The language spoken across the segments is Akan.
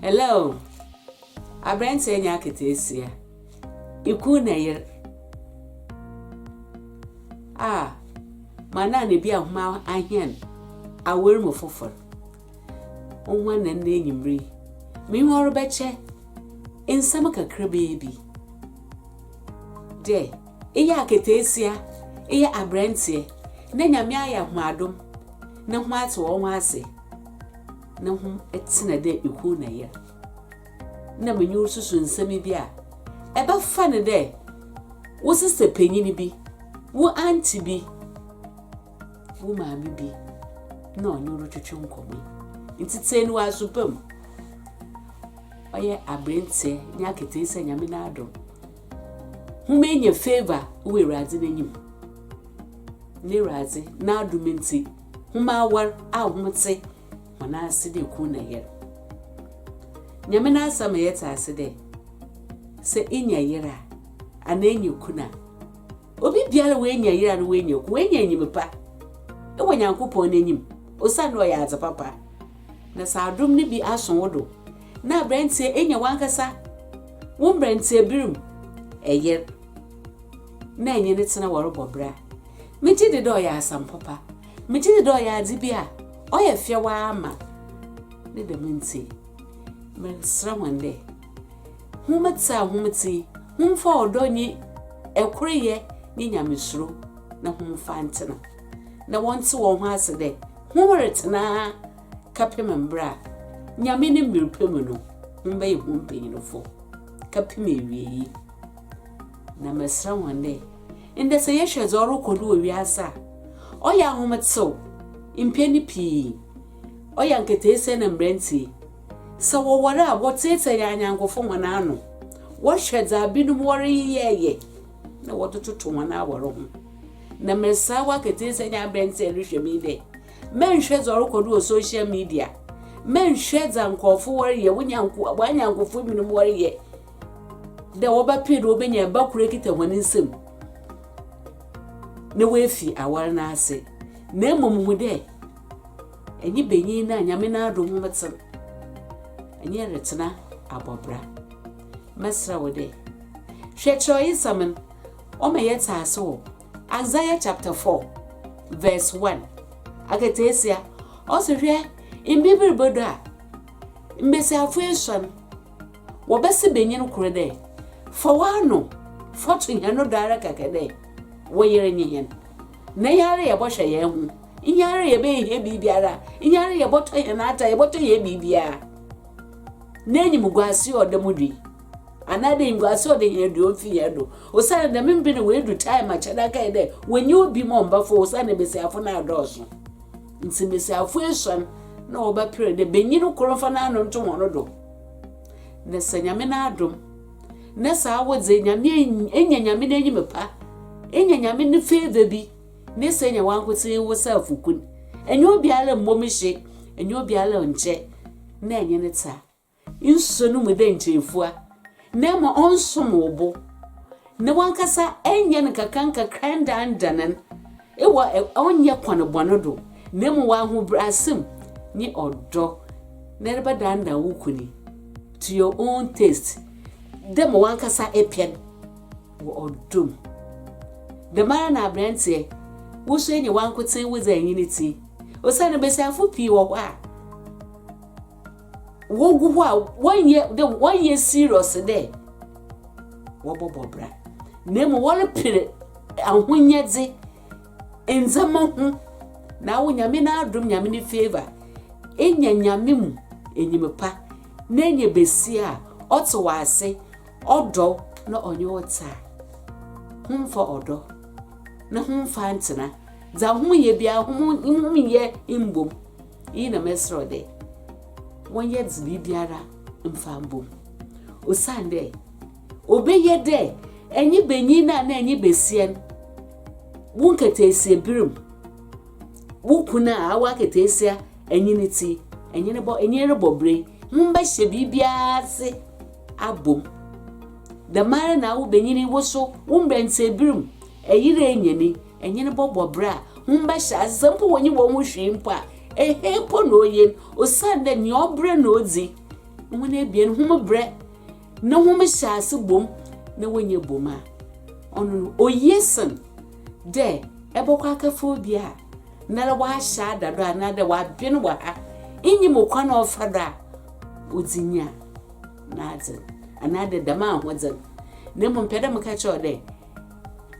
Hello! Aberanteɛ nya aketeesia. Iku na yer. A, ma na ne bi a hom ahɛn awer mu fofor. Wo ho ana ndɛ enyimber yi? Menye wo ɔrebɛkyɛ nsɛm kakrabaa bi dɛ. Eyɛ aketseesia, eyɛ aberantsɛ, na Nyame ayɛ hom adom na hom atse hɔnho ase na hom tsena dɛ ekun na yer. Nna menye wo rususu nsɛm bi a, ebɛfa no dɛ wo sesɛ panyin bi, wo aunty bi, wo maame bi na ɔnye wo rotwetwe nkɔmbɔ yi. Ntsi tsie no wɔ aso pa mu. Ɔyɛ aberantsɛ nye aketseesia Nyame n'adom. Hom enya favour wɔ Ewuradze n'enyim, na Ewuradze n'adom ntsi, hom awar a hom tse hɔn ase dɛ kun na yer. Nyame n'Asɛm ma yɛtse ase dɛ, sɛ inya yer a, anaa inya kun a, obibiara a oenya yer anaa oenya kun, oenya enyim pa wɔ Nyankopɔn n'enyim, osiandɛ ɔyɛ adze papa, na sɛ adom no bi aso wo do, na aberanteɛ anya w'ankasa wo mberanteɛberem ɛyer na enye no tsena wɔrobɔ bra. Megye di dɛ ɔyɛ asɛm papa. Megye di dɛ ɔyɛ adze bi a ɔyɛ fɛw ara ma. Ne dɛm ntsi, mereserɛ hɔn dɛ, hom tse a hom tse yi, hom mfa ɔdɔ nye koryɛ nye nyamesuro na hom mfa ntsena. Na wɔntse hɔnho ase dɛ hom retsena. kɛpem mber a Nyame ne mber pa mu no hom bɛyɛ hom mpanyinfo kɛpem ewiei. Na mɛserɛ hɔn dɛ, ndɛ sɛ yɛhwɛ dza ɔrokɔ do wɔ wiadze a ɔyɛ ahomtsew mpɛn pii, ɔyɛ nketseesɛɛ na mberantsɛ yi, sɛ wɔwar a wɔtseetsee hɛn anyɛnkofo hɔn ano, wɔhwɛ dza binom wɔreyɛyɛ na wɔdze toto hɔn awar ho. Na mereserɛ wo aketseesɛɛ nye aberantsɛ a erohwɛ me yi dɛ, Mɛnnhwɛ dza ɔrokɔ do wɔ social media, mɛnnhwɛ dza nkorɔfo wɔreyɛ, wo nyanko, w'anyɛnkofo binom wɔreyɛ, dɛ wɔbɛper dɛ wobenya mba kor ekitsa hɔn nsamu na woefi awar no ase, na mbom hu dɛ enye banyin no a Nyame n'adom hom tsen, enye retsena abɔ bra. Mɛserɛ wo dɛ, hwɛ kyerɛwyesɛm no, ɔma yɛtse ase wɔ. Isaiah chapter four verse one akataasia ɔsi hwɛ mber bi rebodu a mbasiafo esuon wɔbɛse banyin kor dɛ fa w'ano fa to hɛn do ara kɛkɛ dɛ wo yer nye hɛn na yɛara yɛbɔhwɛ hɛn ho nye ara yɛbɛyɛ hɛn biribiara nye ara yɛbɔtɔ hɛn atar yɛbɔtɔ hɛn biribiara n'enyimguase ɔda mu dui. anaadɛ ngua sɛ ɔde hɛn aduan fi hɛn do, osiandɛ dɛm mber no woedu time a kyɛrɛ akɛyɛ dɛ wonnyi obi ma ɔmbɛfow osiandɛ mbasiafo no adɔɔ sõ. Ntsi mbasiafo esuon na wɔbɛper dɛ banyin kor mfa n'ano nto hɔn do, na sɛ Nyame n'adom na sɛ awodze Nyame enya Nyame n'enyim pa, enya Nyame ne favour bi, na sɛ enya wankotsee wo saafo kun, enye obiara mmbɔ mu hye, enye obiara nnkyɛ na enye no tse a, Nsuso no mu dɛ nkyerefua, na ama ɔnsom wo bo, na wankasa nyɛ no nkakrankakra ndaandan no wɔ ɔnnyɛ kwan bɔn do, na mbom wɔ ahobrɛadze mu nye ɔdɔ na erebɛdandan wo kun yi to your own taste, dɛ ma wankasa epɛ no wɔ ɔdɔ mu. Dɛmara na aberantsɛ, wo so enye wankotsee wo dze anyi ne tsir, osiandɛ mbasiafo pii wɔ hɔ a, wogu hɔ a wɔnyɛ dɛ wɔnyɛ serious dɛ wɔbɔbɔ bra na mmom wɔrepere ahonyɛdze ndzɛmba ho na awo nyame n'adom nyame ne favour enya nyame mu enyim pa na enya besia a ɔtse wɔ ase ɔdɔ na ɔnye wo tse a homfa ɔdɔ na homfa ntsena dza hom yɛ biara hom hom yɛ mbom Iyi na mɛserɛ wo dɛ, wɔnyɛ dze biribiara mfa mbɔ mu, osiandɛ obeye dɛ enye banyin no anaa enye basia no wo nkataasia ber mu, wo kun a awɔ akataasia enye ne tsi, enye no bɔ, enye robɔ bra yi, hom bɛhyɛ biribiara ase abɔ mu. Dɛmara na awo banyin yi wo so wo mberantsɛ ber mu, eyere enye no yi, Enye no bɔbɔ bra a, hom bɛhyɛ adze, sɛ mpo wonnyi hɔnho hwee mpo a, ehe mpo na oye no, osiandɛ nyia ɔbrɛ na odzi. Hom ebien, hom brɛ na hom hyɛ ase bɔ mu na wonnya bɔ mu a, ɔno no oye sen dɛ ebɔkɔ akɛfa obi a noara ɔahyɛ ada do anaadɛ ɔaben wɔ ha, innyim kwan a ɔfa do a odzi nya n'adze no, anaadɛ dɛm ahodze no. Na mbom mepɛ dɛ meka kyerɛ wo dɛ.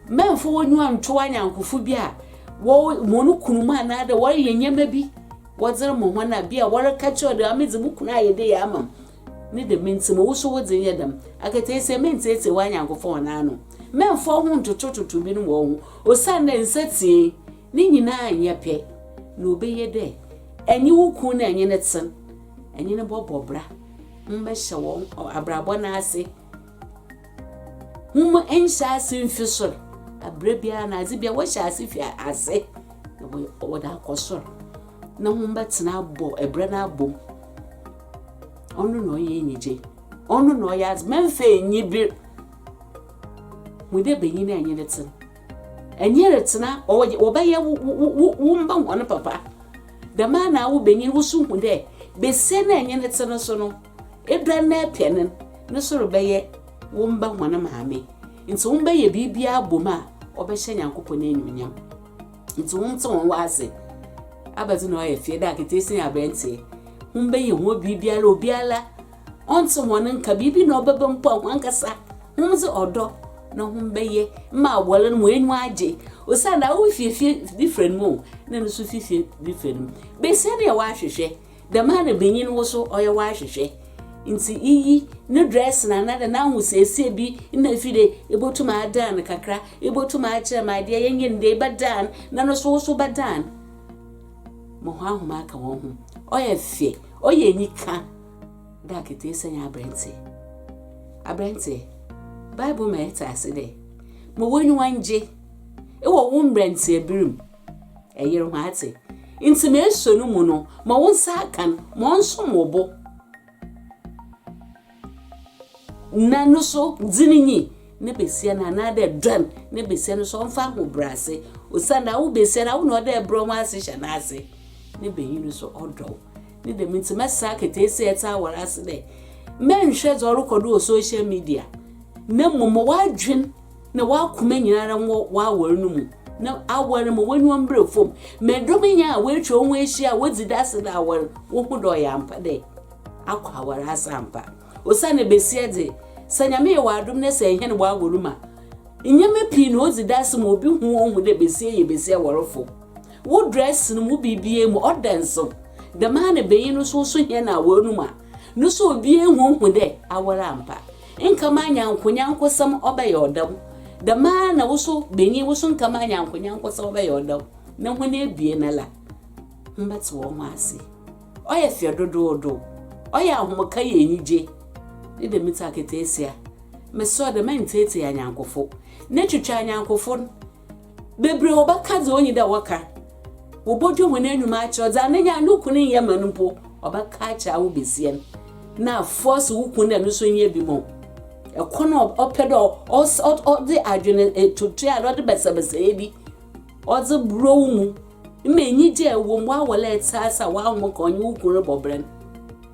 Mɛmfa wo enyiwa nntow anyɛnkofo bi a wɔwo hɔn kunnom anaadɛ wɔreyɛ ndzɛmba bi wɔdze rema hɔn a, bi a wɔrekã kyerɛ wo dɛ, Aa medze mo kun ayɛ dɛ yie ama me, ne dɛm ntsi ma wo so wodze nyɛ dɛm. Akataasia, menntsiatsia w'anyɛnkofo hɔn ano, mɛmfa woho nntotototo binom hɔnho, osiandɛ nsatsiei ne nyina nnyɛ pɛ, na obeye dɛ enye wo kun na enye no tsen, enye no bɔbɔ bra, hom mbɛhyɛ hɔn abrabɔ no ase. Hom nhyɛ ase mfi sor. Aber biara no, adze biara wɔhyɛ ase fi ase na wɔdze akɔ sor, na hom bɛtsena abɔ bra no abɔ mu. Ɔno na ɔyɛ enyigye, ɔno na ɔyɛ adze. Mɛmfa enyiber hu dɛ banyin a enye no tse no, enye retsena, wɔbɛyɛ wo mba hɔn papa. Dɛmara na awo banyin, wo so hu dɛ basia no a enye no tse no so no, Ebɛn na epɛ no, no so rebɛyɛ wo mba hɔn maame. Ntsi hom bɛyɛ biribiara abɔ mu a ɔbɛhyɛ Nyankopɔn enyimnyam. Ntsi hom tse hɔn w'adze. Abɛdze na ɔyɛ fɛɛ dɛ aketseesi nye aberantsɛ. Hom bɛyɛ hɔn biribiara, obiara ɔnntse hɔn nka, biribi na ɔbɛba mpo a, hɔnankasa hom dze ɔdɔ na hom bɛyɛ ma awar no ma h'enyiwa agye. Osiandɛ awo fi fie bi fura no mu o, nna no so fi fie bi fura no mu. Basia no yɛ w'ahwehwɛ. Dɛm ara banyin wo so ɔyɛ w'ahwehwɛ, ntsi iyi no dress no anaa dɛ n'ahosiesie bi na efi dɛ ibotum aadan no kakra, ibotum aakyerɛ ma adeɛ yɛ nyin dɛ ibɛdan na no so wo so bɛdan. Ma hɔn ahom aka hɔn ho. Ɔyɛ fɛ, ɔyɛ enyika dɛ akataasia nye aberantsɛ. Aberantsɛ, Bible ma yɛtse ase dɛ, Ma w'enyiwa ngye wɔ wo mberantsɛber mu. Ɛyere ho ate. Nti me nso no mu no, ma wo nsa aka no, ma ɔnsom wo bo. Na no so dzi no nyi ne besia no anaadɛ dɔn ne besia no so ɔmfa ahobrɛase, osiandɛ awo besia no, awo na ɔda ɛbrɛ ho ase hyɛ n'ase, ne banyin no so ɔdɔ wo. Ne dɛm ntsi mɛsera aketseesi a ɛtse awar ase dɛ, mɛnnhwɛ dza ɔrokɔ do wɔ social media, na mbom ma w'adwen Na w'akoma nyinara nwɔ w'awar no mu, na awar ma w'enyiwa mbra famu. Ma dɔm nyinara a woetwa woho ehyia a wodzi dase dɛ awar wohu dɛ ɔyɛ ampa dɛ akɔ awar ase ampa. Osiandɛ basia dze, sɛ Nyame yɛ w'adom na sɛ hɛn w'awar mu a, ndzɛmba pii na odzi dase ma obi hu ohu dɛ basia yɛ basia awarfo. Wo drɛs no mu, wo biribiara mu, ɔda nsew. Dɛmara na banyin no so, ɔsɔ hɛn awar no mu a, no so obiara hu ohu dɛ awar ampa. Nka m'anya nkonyankosɛm ɔbɛyɛ ɔdɛw, dɛm ara na wo so, banyin, wo so nka m'anya nkonyankosɛm ɔbɛyɛ ɔdɛw, na hɔn ebien la, hom bɛtse hɔnho ase. Ɔyɛ fɛ dodoodo, ɔyɛ ahomka yɛ enyigye, ne dɛm ntsi akataasia, mesɔr dɛ mɛntseetsee anyɛnkofo, na etwitwa anyɛnkofo no, Bebree wɔbɛka dza onnyi dɛ wɔka, wɔbɔdwe hɔn enuma akyerɛ wo, dza nenya no kun nnyɛ ma no mpo, wɔbɛka akyerɛ awo basia no, na aforce wo kun dɛ no so nyɛ bi ma wo. Kor no ɔpɛ dɛ ɔdze adwen tuatua na ɔdze bɛsɛbɛsɛɛ bi ɔdze brɔ wo mu. Mma enyigye a ewɔ mu w'awar a etsease a w'ahom ka ɔnye wo kun robɔ bra no.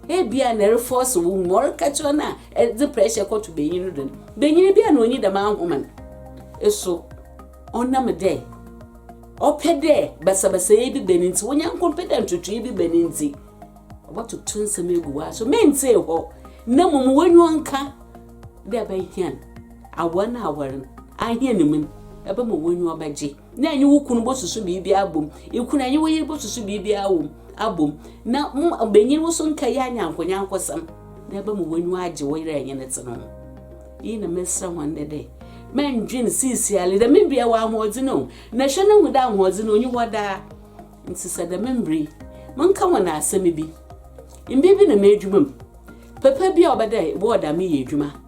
Ebia nna erefɔɔse wo mu, ɔreka kyerɛ no a edze pressure kɔto banyin no do no, banyin bi a nna onnyi dɛm ahoma no eso. Ɔnam dɛ ɔpɛ dɛ basabasayɛ bi ba no ntsi, wo nyɛnko mmpɛ dɛ ntwetwee bi ba no ntsi, ɔbɔtoto nsɛm egu w'aso ma enntsee hɔ na mbom w'enyiwa nka dɛ ebɛhɛn awar na awar no, ahɛn mu no, ebɛma w'enyiwa bɛgye. na enye wo kun bosusu biribi abɔ mu, ikun enye wo yer bosusu biribi awɔ mu abɔ mu, na mo mbanyin wo so nnkɛyɛ anyankonyankosɛm, na ebɛma w'enyiwa agye wo yer a enye no tse no ho. Iyi na mereserɛ hɔn ndɛ dɛ, Mundwen siesiara dɛ me bea wɔ ahoɔdzen o, na hwɛ na hu dɛ ahoɔdzen onnyi hɔ daa. Ntsi sɛ dɛm mber yi monka hɔn asɛm bi, mber bi na m'edwuma mu, papa bi a ɔbɛ dɛ ebɔwɔ dɛ ameyɛ edwuma,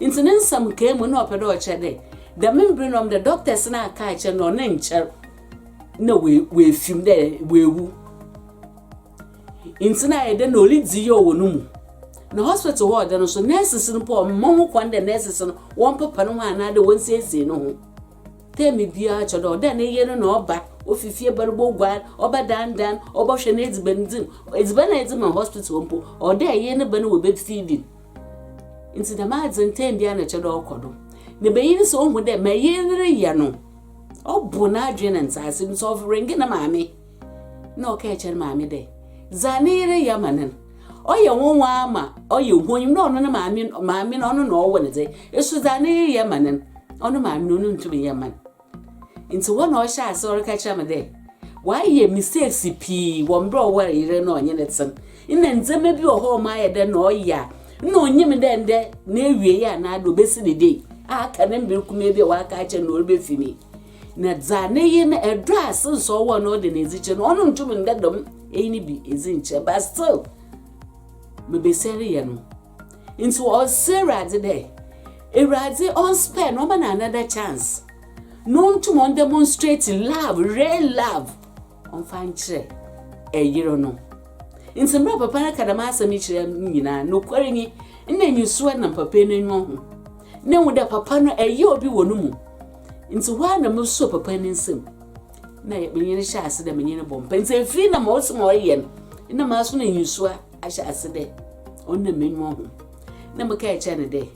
Ntsi ne nsɛm nkaa mu, nna ɔpɛ dɛ ɔkyerɛ dɛ, dɛm mber no ndɛ doctors no aka akyerɛ no dɛ ɔno nnkyɛr na oefi mu, dɛ oewu. Ntsi nna ayɛ dɛ nna oridzi yaw wɔ no mu. Na hospital hɔ a ɔda no so, nurses no mpo wɔmma ho kwan dɛ nurses no wɔmpepa no ho anaadɛ wonsiesie no ho. Term biara kyerɛ dɛ ɔwɔ dɛ ne yer no na ɔba, ofi fie ba no boguar, ɔbɛdandan, ɔbɔhwɛ n'edziban dzi mu. Edziban a edzi ma no hospital hɔ mpo, ɔwɔ dɛ yer no ba no wɔ bed feeding. Ntsi dɛm adze ntsɛm biara na ɔkyerɛ dɛ ɔkɔ do. Na banyin no sɛ ohu dɛ ma iyi reyɛ no ɔbor n'adwen na ntsease do, sɛ ɔfrɛngee ne maame na ɔkaa akyerɛ ne maame dɛ dza ne yer reyɛ ama no no, ɔyɛ nwanwa ara ma ɔyɛ honyim na ɔno ne maame no, maame no ɔno na ɔwo no dze, eso dza ne yer yɛ ma no no, ɔno maame no onntum nnyɛ mma no. Ntsi hɔ na ɔhyɛɛ ase ɔrekã kyerɛ me dɛ ɔayɛ mistakes pii wɔ mber a ɔwaar yer no na ɔnye no tsen. Nna ndzɛmba bi wɔ hɔ a ɔma ayɛ dɛ nna ɔyɛ a nna onnyim dɛ ndɛ n'ewiei anaa dɛ obesi ne dee a aka ne mber kumaa bi a ɔaka akyɛ no na ɔrebefi mu yi. Na dza ne yer no, dɔ a since ɔwɔ no ɔda no edzi kyerɛ no, ɔno nntum nnda dɛm eyi no bi edzi nnkyerɛ but still me basia reyɛ no. Ntsi ɔsrɛ Ewuradze dɛ Ewuradze ɔnspare no, ɔma no another chance, na ontum ɔndemonstrate love, real love, ɔmfa nkyerɛ yer no. Ntsi mbrɛ papa no ka dɛm asɛm yi kyerɛ no nyina, nokwar nye, nna enyisuro nam papa yi n'enyiwa ho, na ehu dɛ papa no yɛ obi wɔ no mu. Ntsi hɔ ara na mosuoo papa yi ne nsamu, na menye no hyɛɛ ase dɛ menye no bɔ mpaa. Ntsi efir no ma ɔse ma ɔyɛ no, nna masono enyisua. ahyɛ ase dɛ ɔnam m'enyiwa ho, na mekaa kyerɛɛ no dɛ,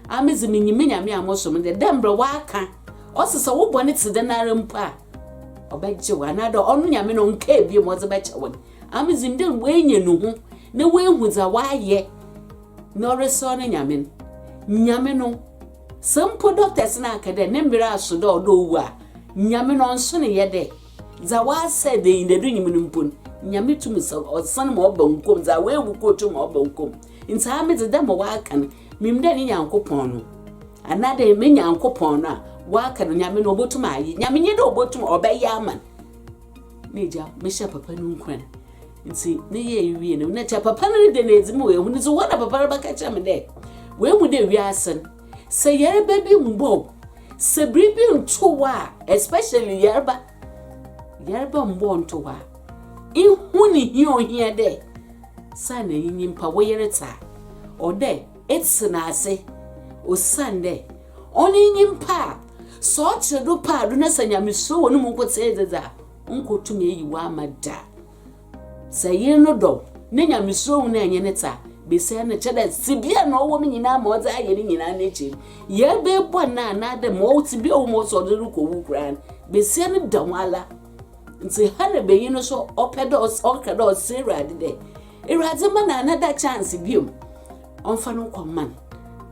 Aah, medze minyim me Nyame a mosom no dɛ, dɛ mbrɛ ɔakã, ɔse sɛ wo bɔn tse dɛnara mpo a, ɔbɛgye wo, anaadɛ ɔno Nyame no ɔnnkaa bio ma ɔdze bɛkyɛ wo no. Aah, medze nim dɛ oenya no hu na oehu dza ɔayɛ na ɔreserɛ no Nyame no. Nyame no, sɛ mpo doctors no akã dɛ ne mber aso dɛ ɔwɔ dɛ owu a, Nyame no ɔnnso ne yɛ dɛ Dza ɔasɛɛ dɛ nyi na erunnyi no mpo no, Nyame tum sɛ Ɔsan ma ɔba nkwa mu, dza oewu kɔ otum ma ɔba nkwa mu. Ntsi aa medze dɛ ma ɔaka no, minyim dɛ ne Nyankopɔn no, anaa dɛ me Nyankopɔn no a ɔaka no, Nyame no, obotum ayɛ. Nyame nye dɛ obotum, ɔbɛyɛ ama no. M'egya, mehyɛɛ papa no nkuran, ntsi meyɛe wiei no, nna kyɛ papa no reda no edzi ma oehu no. Dze hɔ na papa no bɛka kyerɛ me dɛ, Oehu dɛ wiadze no, sɛ yarba bi mmbɔ wo, Sɛ biribi nto hɔ a, especially yarba, yarba mmbɔɔ nto hɔ a, ihu ne hia ohia dɛ saana enye nyimpa wo yer tse a, ɔwɔ dɛ etse no ase osiandɛ ɔnye nyimpa a sɛ ɔtse do paado na sɛ nyamesuro wɔ no mu nkotsee dze dze a, onnkotum eyi wo ama da. Sɛ yer no dɔ wo, ne nyamesuro ho na enye no tse a, besia no kyɛ dɛ tsebea a na ɔwɔ mu nyina ma ɔdze ayɛ ne nyina n'ekyir. Yɛrebɛyɛ bɔn no anaadɛ ma ɔwɔ tsebea a ɔwɔ mu ɔsɛ ɔdze rokɔ wu koraa no, besia no da ho ara. Ntsi Hannah banyin no so ɔpɛ dɛ ɔka dɛ ɔsrɛ Ewuradze dɛ, Ewuradze mma no another chance bio, ɔmfa no nkɔ mma no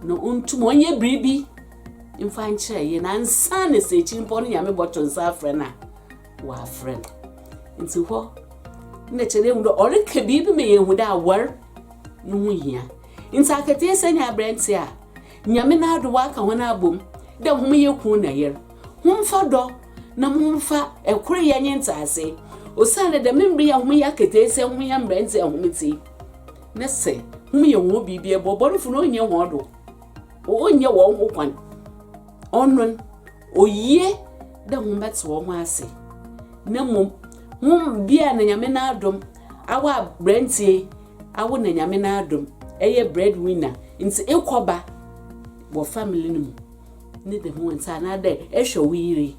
na ontum ɔnyɛ biribi mfa nkyerɛ yer no ansaana sɛ ekyir mpo no Nyame bɔto nsa afrɛ no a. wɔafrɛ no nti hɔ na kyɛ dɛ mu dɛ ɔreka biribi ma yɛhu dɛ awar no ho hia nti akataasia nye aberantsɛ a nyame n'ado wɔaka hɔn abɔ mu dɛ hom yɛ kun na yer homfa dɔ na momfa ɛkoryɛ nye ntsease osiandɛ dɛm mber yi a hom yɛ akataasia hom yɛ mberantsɛ a hom tse na sɛ hom yɛ hɔn biribi bɔ bɔnfo no ɔnnyɛ hɔn do ɔnnyɛ hɔn ho kwan ɔnon Oye dɛ hom bɛtse hɔnho ase na mbom hom bi a na Nyame n'adom awo aberantsɛ yi awo na Nyame n'adom eyɛ bread winner ntsi ekɔ ba wɔ family no mu ne dɛm ntsi anaadɛ ehwɛ wo yer yi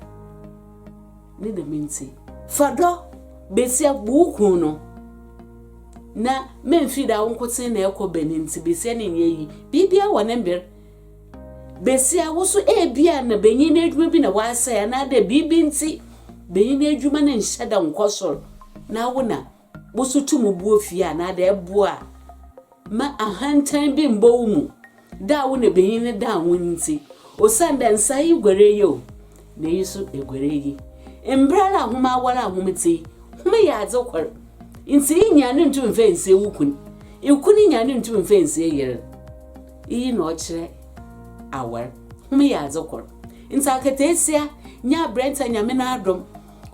ne dɛm ntsi fa dɔ basia bu wo kun no na memmfi da wo nkotsee na ekɔ ba ne ntsi basia no nnyɛ iyi biribiara wɔ ne mber. Besia, wo so ebia na benyin edwuma bi na wɔasɛe anaadɛ biribi ntsi benyin edwuma no nnhyɛ da nnkɔ sor, na wo na wo so tum bu ofie anaadɛ eboa ma ahantan bi mmbɔ wo mu da a wo na benyin no daa wo ntsi. Osiandɛ nsa yi guar eyi o, na iyi so eguar eyi. Mber ara a hom awar a hom tse yi, hom yɛ adze kor, ntsi iyi nyia no nntum mmfa nnsie wo kun, ikun nyia no nntum mmfa nnsie yer. Iyi na ɔkyerɛ awar. Hom yɛ adze kor. Ntsi akataasia, nye aberantsɛ Nyame n'adom,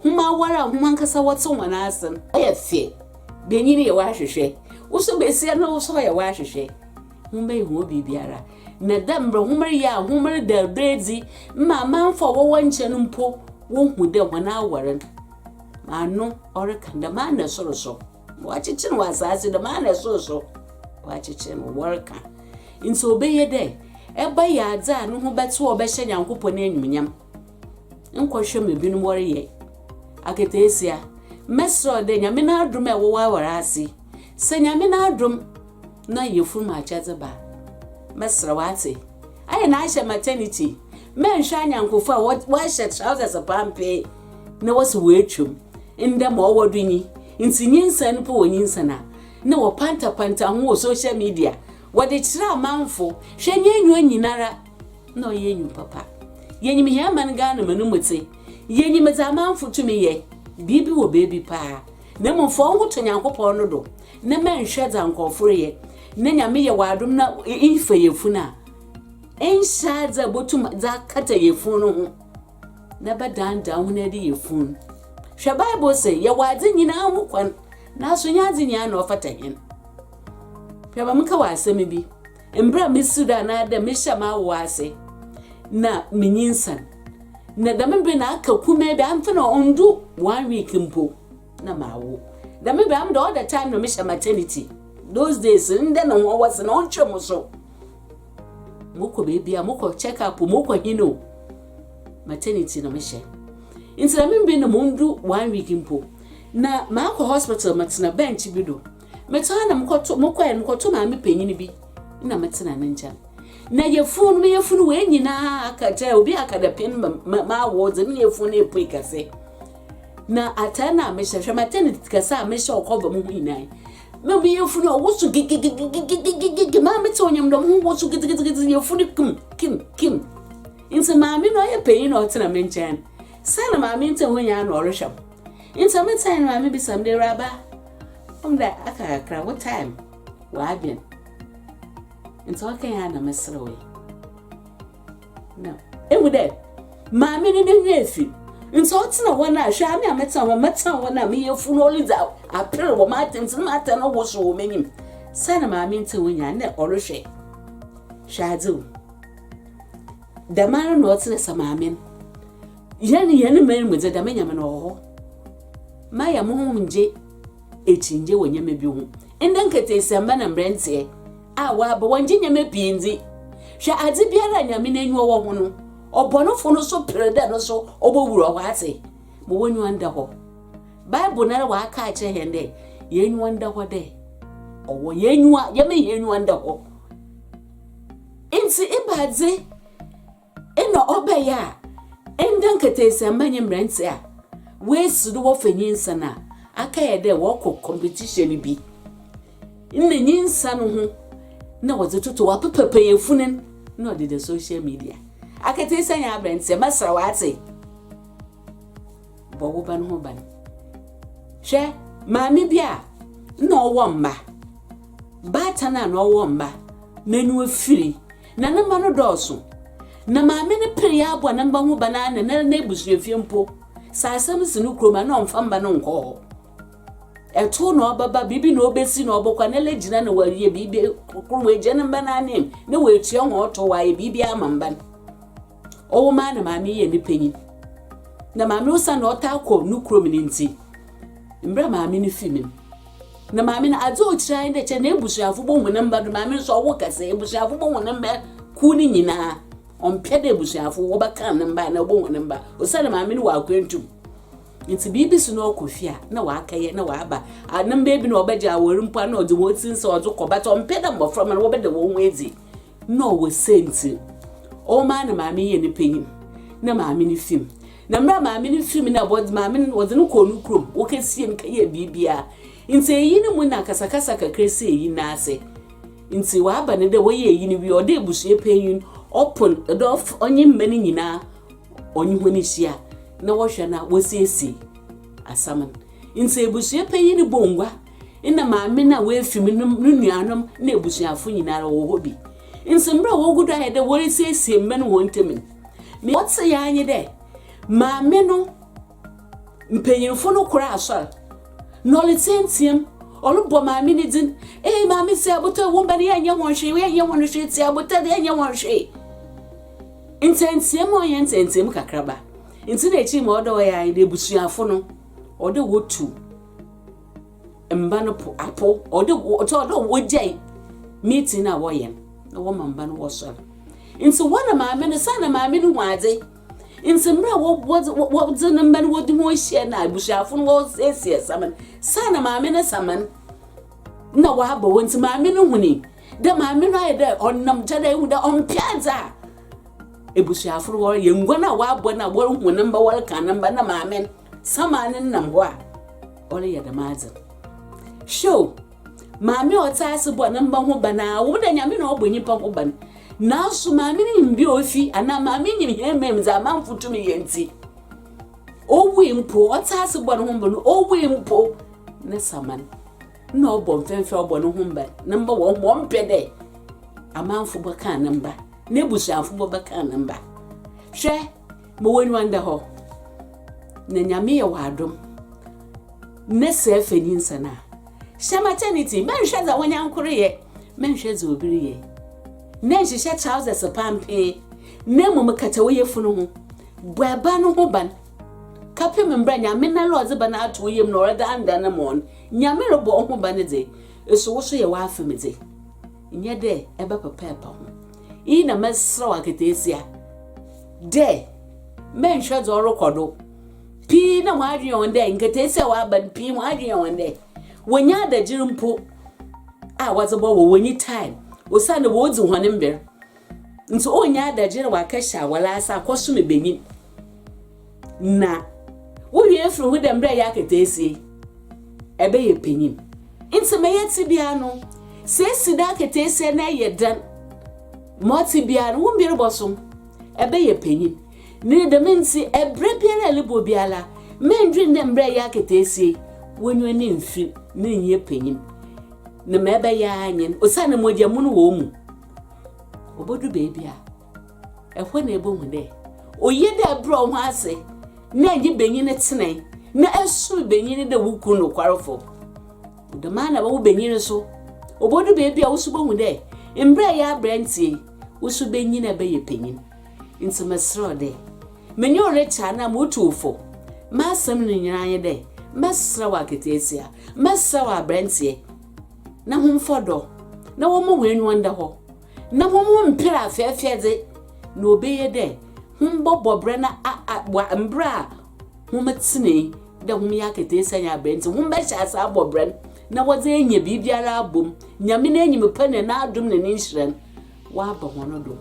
hom awar a hom ankasa wɔtse hɔn ase no. Ɔyɛ fɛ. Banyin yɛ w'ahwehwɛ. Wo so basia no wo so ɔyɛ w'ahwehwɛ. Hom bɛyɛ hɔn biribiara. Na dɛ mbrɛ hom reyɛ a hom reda do edzi ma amamfo a wɔwɔ nkyɛn no mpo wohu dɛ hɔn awar no, ano ɔrekã dɛm ara na sor so. Wɔakyekye no wɔ asaase do, maa no sor so wɔakyekye no, wɔrekã. Ntsi ɔbɛyɛ dɛ ebɛyɛ adze a no ho bɛtse a ɔbɛhyɛ Nyankopɔn enyimnyam. Nkɔhwɛ ma binom wɔreyɛ akataasia. Mɛserɛ wo dɛ Nyame n'adom a ewɔ w'awar ase, sɛ Nyame n'adom, Na yɛfiri mo akyɛdze ba. Mɛserɛ wo atse. Ayɛ na ahyɛ maternity. Mɛnhwɛ anyɛnkofo a wɔahyɛ trousers pampee na wɔse wɔatwa mu. Ndɛ ma ɔwɔ do nyi. Ntsi nyinsɛn mpo wɔ nyinsɛn a nna wɔpantapanta ho wɔ social media wɔdze kyerɛ amamfo. Hwɛ nye enyiwa nyinara na ɔyɛ enyiw papa. Yenyim hɛn man Ghana mu no mu tse. Yenyim dza amamfo tumi yɛ. Biribi wɔ beebi paa. Na mbom fa woho to Nyankopɔn no do. Ne mɛnhwɛ dza nkorɔfo reyɛ, na Nyame yɛ w'adom na efa yafun a, enhyɛ adze a botum dze akata yafun no ho na bɛdaadaa hɔn adi yafun. Hwɛ, Bible se, Yɛwɔ adze nyina ho kwan, naaso nnyɛ adze nyina na ɔfata hɛn. Hwɛ, ma menka wo asɛm bi, mber a misi do anaadɛ mehyɛɛ m'awowa ase na minyinsan, na dɛm ber no aka kumaa bi, ammfa no a onndu one week mpo, na mawo dɛm ebɛn am dɛ all the time na mehyɛ maternity those days ndɛ no ho wɔse na ɔntwe mo so mokɔ baabi a mokɔ check up mokɔ hin o maternity na mehyɛ nti na membi no mondu one week mpo na maakɔ hospital matena bench bi do metaa na mokɔto mokɔɛ no mokɔto maame panyin bi na metena ne nkyɛn na yɛfunu no meyɛ funu wei nyinaa aka kyɛ obi aka dɛ pɛn ma ma awo dze meyɛ funu no epue kɛse Na atar no a mehyɛ, hwɛ m'atened kɛse a mehyɛ wɔ kɔba mu ho nyina ɛ, na me yafun a ɔwo so gigigigigigigigigi, maa metse ɔnyam dɔm ho wɔ so gidzigidzigidzi, yafun no kim kim kim. Ntsi maame no ɔyɛ panyin na ɔtsena me nkyɛn, sɛ na maame ntsɛ hɔ nyina na ɔrohwɛ m'. Ntsi a metsee no, maame bisa me dɛ, Ewuraba, ɔwom dɛ aka kakra, wo time, w'adwen. Ntsi ɔkãe a na meserewee. Na ehu dɛ Maame no n'enyi efi, ntsi ɔtsena hɔ no a, hwɛ, ame a metsena hɔ, metsena hɔ no a, meyɛ fun, oridzi aper wɔ m'atar mu, ntsi nna m'atar no wosow wɔ m'enyim. Sɛ nna Maame nntse hɔ nyina nna ɔrohwɛ. Hwɛ adze o. Dɛmara na ɔtse dɛ sɛ Maame no, hɛn hɛn man mu dze, dɛm nyɛma no ɔwɔ hɔ. Mayɛ moho ngye ekyingye wɔ nyɛma bi ho. Ndɛ nketeesiamba na mbrɛ nntseɛ. A wɔaba, wɔnngye nneɛma pii ndzi. Hwɛ, adze biara a Nyame n'enyiwa wɔ ho no, ɔbɔnofo no so per dɛ no so obowura hɔ adze ma w'enyiwa nda hɔ. Bible noara ɔaka akyerɛ hɛn dɛ hɛn enyiwa nda hɔ dɛ ɔwɔ, hɛn enyiwa, yɛmma hɛn enyiwa nda hɔ. Ntsi ebɛnadze? Nna ɔbɛyɛ a, ndɛ nketeesɛmba nye mberantsɛ a woesi do wɔfa nyinsa no a, akɛyɛ dɛ wɔkɔ kɔmpetihyian bi. Nna nyinsa no ho na wɔdze toto hɔ, apapa panyɛfun no na ɔdze da social media. Aketeesɛ nye aberantsɛ, mɛsera wo atse, bɔ wo ba no ho ban. Hwɛ maame bi a nna ɔwɔ mba, baatan a na ɔwɔ mba, n'enyiwa fir, Na ne mma no dɔɔso. Na maame no pere yɛ aboa ne mma ho ban ara na na ɛrena abusuafie mpo. Sɛ asɛm si no kurom a, na ɔmfa mma no nkɔ hɔ. Ɛto na ɔbɛba, biribi na ɔbɛsi na ɔbɛkɔ a, na lɛgyina na wayɛ biribi koro, wagya ne mma no anim na watua wɔn tow, wayɛ biribiara ama mma no. ɔwo maa na maame yɛɛ ne panyin. Na maame osiandɛ ɔtaa kɔ no kurom no ntsi, mbrɛ maame no fi me no, na maame no adze a okyerɛ ara nye dɛ kyɛ n'ebusuafo bohu ne mba do, maame no so ɔwo kɛse, ebusuafo bohu ne mba kuw no nyina. Ɔmmpɛ dɛ ebusuafo wɔbɛkan ne mba anaa wobohu ne mba osiandɛ maame no wɔ akwantu mu. Ntsi biribi si na ɔkɔ fie a na ɔakɛyɛ na ɔaba. A ne mba bi na ɔbɛgye awar mpo a na ɔdze hɔn tsir nsɛw ɔdze kɔ but ɔmmpɛ dɛ mboframba no wɔbɛda hɔnho edzi. Nna ɔwɔ siantsir, ɔwɔ mu a nna maame yɛ ne panyin na maame no fi mu. Na mber a maame no fi mu no, wɔdze maame no wɔdze no kɔɔ no kurom, wokesiee no kɛyɛɛ biribiara. Ntsi eyi no mu na akasakasa kakra sii eyi no ase. Ntsi ɔaba no dɛ wɔyɛɛ eyi no wie, ɔdɔ ebusua panyin, ɔpon dɛ ɔf ɔnye mba no nyina ɔnye hɔn ehyia na wɔhwɛ na wosiesie asɛm no. Ntsi ebusua panyin no bɔɔ ngua. nna maame no a oefi mu no no nuanom na ebusuafo nyinara wɔwɔ hɔ bi. Ntsi mber a wogu do ayɛ dɛ worisiesie mba no hɔn ntamu no, ma ɔtseer ara nye dɛ maame no mpanyimfo no kor asoɛr na ɔretseatsea mu, ɔrobɔ maame no dzin, Ei, maame Tsiabotr, wo mba no yɛnnyɛ hɔn hwee, yɛnnyɛ hɔn hwee, Tsiabotr, yɛnnyɛ hɔn hwee. Ntsɛntsia mu a ɔnnyɛ ntsɛntsia mu kakraba. Ntsi na ekyir ma ɔwɔ dɛ ɔyɛ ara nye dɛ ebusuafo no, ɔwɔ dɛ wotu mba no po apow, ɔwɔ dɛ ɔtɔ dɛ wogyae meeting no a wɔyɛ no na wɔma mba no wɔsoɛr. Ntsi hɔn na maame no, saana maame no hu adze. Ntsi mber a wɔdze no mba no wɔdze hɔn hyia na ebusuafo no wɔresiesie saman, saana maame no saman na wɔaba hɔ ntsi maame no hun dɛ maame no ayɛ dɛ ɔnam gya dɛ ehu dɛ ɔmmpɛ adze a ebusuafo no wɔreyɛ, nguan a wɔabɔ no a woruhu ne mba wɔrekan ne mba na maame no. Tsama no nam hɔ a, ɔreyɛ dɛm adze no. Hwɛ o, maame a ɔtse ase bɔ ne mba ho ban a, ɔwɔ mu dɛ Nyame na ɔbɔ nyimpa ho ban, naaso maame no nyim bi a ofi anaa maame nyim hɛn man mu dza amamfo tum yɛ ntsi, owui mpo, ɔtse ase bɔ no ho ban, owui mpo, ne tsama no nna ɔbɔ mfɛmfɛ a ɔbɔ no ho ban. Ne mba wɔ hɔ ma ɔmmpɛ dɛ amamfo bɔkaa ne mba, n'ebusuafo bɔbɛkaa ne mba. Hwɛ! Ma w'aniwa nda hɔ, na Nyame yɛ wo adom na sɛɛ fa nyinsa no a. Hyɛ maternity, mɛnhwɛ dza w'anyankor reyɛ, mɛnhwɛ dza obi reyɛ, na nhyehyɛ trousers pampee, na mbom kata wo yafun ho, bɔ ba no ho ban, kɛpem mbrɛ Nyame noara ɔdze ba no ato wo yamu na ɔredandan no ma wo no. Nyame robɔ wo ho ban dze, eso wo so yɛ w'afamdze, nnyɛ dɛ eba papa a epa ho. Iyi na mɛserɛ wo akataasia dɛ mɛnhwɛ dza ɔrokɔ do. Pii na hɔn adwen yɛ hɔn dɛ nkataasia a wɔaba no, pii hɔn adwen yɛ hɔn dɛ wonnya adagyer mpo a wɔdze bɔwɔ, wonnyi time osiandɛ woridzi hɔn mber ntsi, wonnya adagyer wɔakɛhyɛ awar ase akɔsom ebanyin Na wowie efir ho dɛ mbrɛ yɛ akataasie ɛbɛyɛ panyin. Ntsi ma yɛtse biara no, sɛ esi do akataasie na ɛyɛ dɛn, ma ɔtse biara no wo mber bɔso, ɛbɛyɛ panyin. Ne dɛm ntsi ɛberɛ biara a elbɔ biara, mendwen dɛ mbrɛ yɛ akataasie wonyo ne mfir ne nyɛ panyin, na ma ɛbɛyɛ ara nye n' osiandɛ mogya mu no wɔ wo mu, obodu beebi a. Hɔ na ebohu dɛ oye dɛ ebrɛ woho adze na enye banyin no tsena na esom banyin no dɛ wo kun nokwarfo. Dɛm ara na wɔ wo banyin no so, obodu beebi a wo so bohu dɛ mbrɛ eyɛ aberantsɛ yi, wo so benyin na ebɛyɛ panyin. Ntsi meserɛ wo dɛ, menye wo rekyɛ anaa murutu wo fo, m'asɛm no nyina nye dɛ, mɛserɛ wo akataasia, mɛserɛ wo aberantsɛ, na hom mfa ɔdɔ na wɔmma hɔn enyiwa nda hɔ na hom mper afɛɛfɛdze, na obeye dɛ hom bɔbɔ bra na a-a wɔ mber a hom tsenee dɛ hom yɛ akataasia nye aber ntsi, hom bɛhyɛ ase abɔ bra no, na wɔdze enya biribiara abɔ mu, Nyame n'enyim pa na n'adom na ne nhyira no wɔaba hɔn do,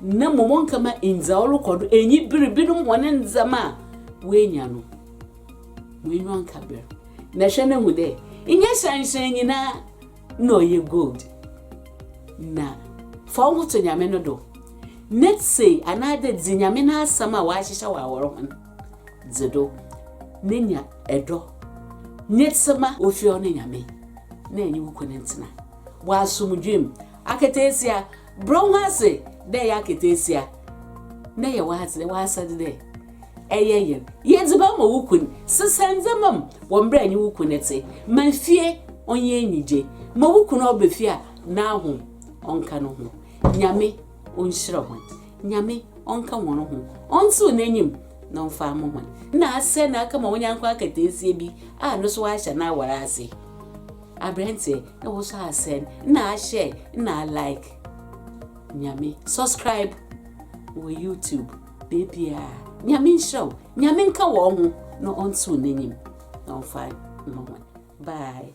na mbom ɔnnkɛma ndza ɔrokɔ do enyi ber binom hɔn ndzɛmba a woenya no mu enyiwa nnkã ber, na hwɛ na hu dɛ nnyɛ hyɛnhyɛn nyina Nna ɔyɛ gold na fa woho to Nyame no do, na tsei anaadɛ dzi Nyame n'asɛm a ɔahyehyɛ wɔ awɔr ho no dze do, na nya dɔ nye tsema. Ofie hɔ no Nyame na enye wo kun ntsena wɔ asomdwee mu akataasia. Brɛ wo ase dɛ eyɛ akataasia na yɛ w'adze, w'asɛdze dɛ eyɛ yer. Yɛ edziban ma wo kun. Sesa ndzɛmba mu wɔ mbrɛ enye wo kun tse. Ma fie ɔnyɛ enyigye. Ma wo kun a ɔba fie a n'ahom ɔnka no ho. Nyame onhyira hɔn. Nyame ɔnka hɔn ho. Ɔntsew n'enyim na ɔmfa ama hɔn. Nna asɛn na aka ma wo nyɛnko akataasia bi a no so ɔahyɛ n'awar ase. Aberantsɛ na wo so asɛn na ahyɛ na a like Nyame subscribe wɔ YouTube beebiaa Nyame nhyira wo Nyame nka wɔ ho na ɔntsew n'enyim na ɔmfa mma hɔn bye.